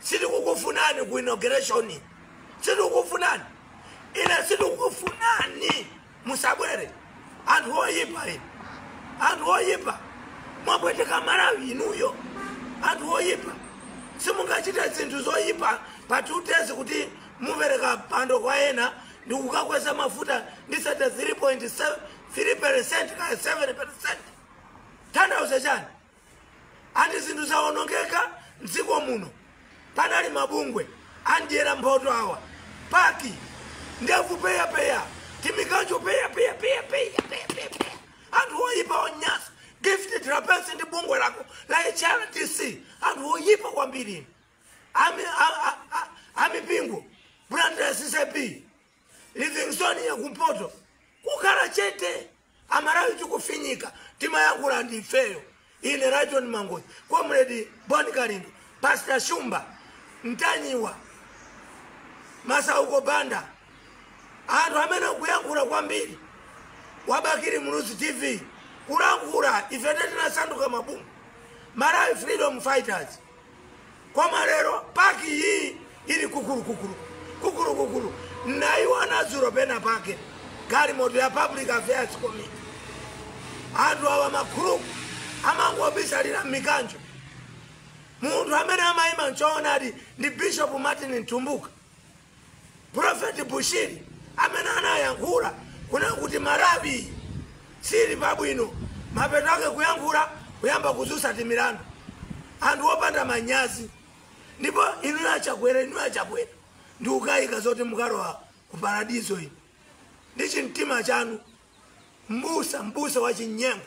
sitikukufunani ku inauguration sitikukufunani ine sitikukufunani musabwere anthu oyipa ine anthu oyipa mwapweteka malawi inuyo anthu oyipa simungachite zinthu zoyipa pa two days kuti mupereka pando kwa ena ndi kukakweza mafuta ndi 33.3 percent kaya 7 percent tanthauza chani Ati zinthu zawonongeka mdziko muno panali mabungwe adyera mphoto awa pac ndevu peyapeya timikanjo peyapeyapeyapeyapeyapeya anthu oyipa onyasa gift trapence ndi bungwe lako la hrdc anthu oyipa kwambiri inu. Ami- a- a- a- amipingo blantyre ccap livingstonia yakumpoto kukhala chete amalawi tikufinyika timayankhula ndi ifeyo ine lyton mangochi comrade bon kalindo pastor shumba mtanyiwa masauko banda anthu amene akuyankhula kwambiri wa bakili muluzi tv kulankhula ife tinasanduka mabungwe malawi freedom fighters koma lero pac iyi ili kukulukukulu kukulukukulu naiona dzulo pena pake galimoto ya public affairs committee anthu awa makhuluku amangobisalira m'mikanjo munthu amene amayima mchoonadi ndi bishop martin mtumbuka Prophet Bushiri amene anayankhula kuna kuti Malawi sili pabwino mapeto ake kuyankhula kuyamba kudzutsa timilandu anthu opanda manyazi ndipo inu achakwera inu achakwera ndikukayika zoti mukalowa ku paradizo inu ndi chimtima chanu mbusa mbusa wa chinyengo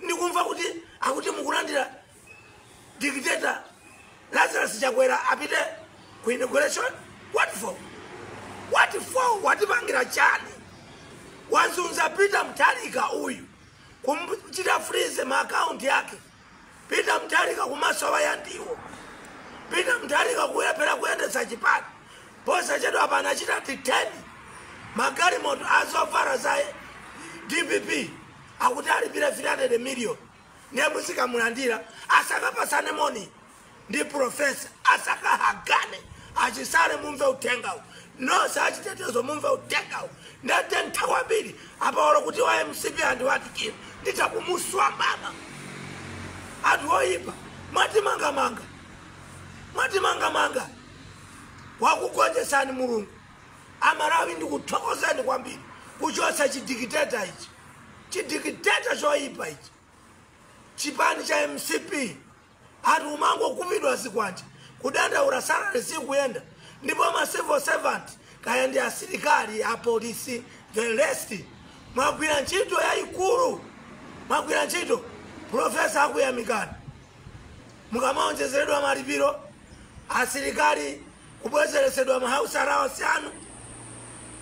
ndikumva kuti akuti mukulandira dictator lazarus chakwera apite ku inauguration what for what for watipangira chani wazunza peter mutharika uyu kumchita freeze maakaunti yake peter mutharika kumasowa ya ndiwo peter mutharika kulephera kuyendetsa chipani posachedwa apa anachita detain magalimoto a zovala za dpp akuti alipire 300 million ndiye muzikamulandira asakapatsane moni ndi profesa asakahagane a chisale mumve uthengawu nonse achitetezo mumve uthengawu ndete nthawambiri apaolo kuti wa mcp andiyandikira nditha kumuswa baba anthu oyipa mwatimangamanga mwatimangamanga wakugonjetsani mulungu amalawi ndikuthokozeni kwambiri kuchotsa chidikiteta ichi chidikiteta choyipa ichi chipani cha mcp anthu kumangokhapidwa zikwanje kudandaura salary sikuyenda ndipo ma civil servant kaya ndi asilikali apolisi the rest mwagwira ntchito yayikulu mwagwira ntchito profesa akuyamikani mukamaonjezeredwa malipiro asilikali Kubwezeretsedwa ma House Allowance anu.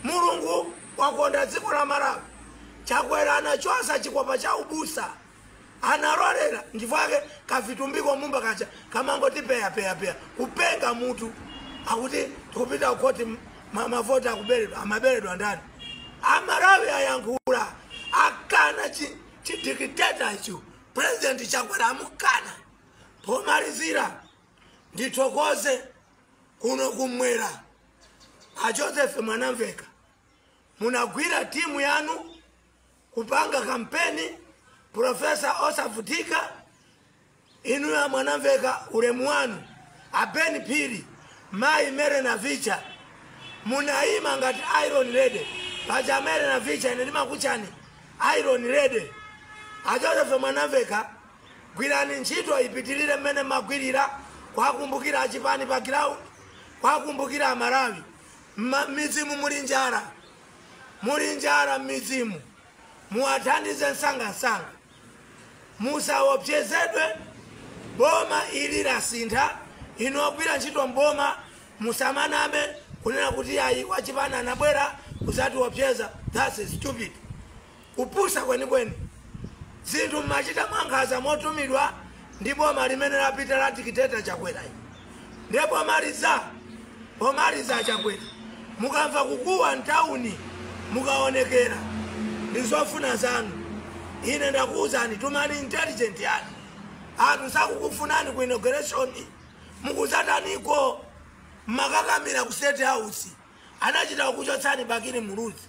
Mulungu wakonda dziko la Malawi. Chakwera anachosa chikhopa cha ubusa. Analolera nchifukwa yake kavitumbiko Mumba kaja kamangoti peya peya peya kupenga mutu akuti tikupita ku khoti ma- mavoti akuberedwa amaberedwa ndani amalawi ayankhula akana chi- chidikiteta icho president chakwera amukana pomalizira Ndithokoze kuno kummwera a Joseph Mwanamveka munagwira timu yanu kupanga kampeni Profesa osavutika inuyo a Mwanamveka ulemu wanu a Ben Phiri mayi Mary Navicha munayima ngati Iron Lady paja Mary Navicha ine ndimakutchani Iron Lady a Joseph Mwanamveka Gwirani ntchito ipitilire mmene mmagwilira, kuwakumbukira achipani pa ground, kuwakumbukira amalawi. Mma mmidzimu muli njala, muli njala mmidzimu, muwathandize msangamsanga. Musawopsezedwe, boma ili lasintha, inu ogwira ntchito mboma musamaname kunena kuti ayi wachipani anabwera kuzatiwopseza, thats stupid. Kupusa kwenikweni. Zinthu mumachita mwankhaza motumidwa ndi boma limene lapita la dictator Chakwera ili. Ndiye pomaliza pomaliza a Chakwera mukamva kukuwa mtauni mukaonekera ndi zofuna zanu. Ine ndakuwuzani tumani intelligent yanu. Anthu sakukufunani ku inauguration mukuzataniko mumakakamira ku state house anachita kukuchotsani Bakili Muluzi.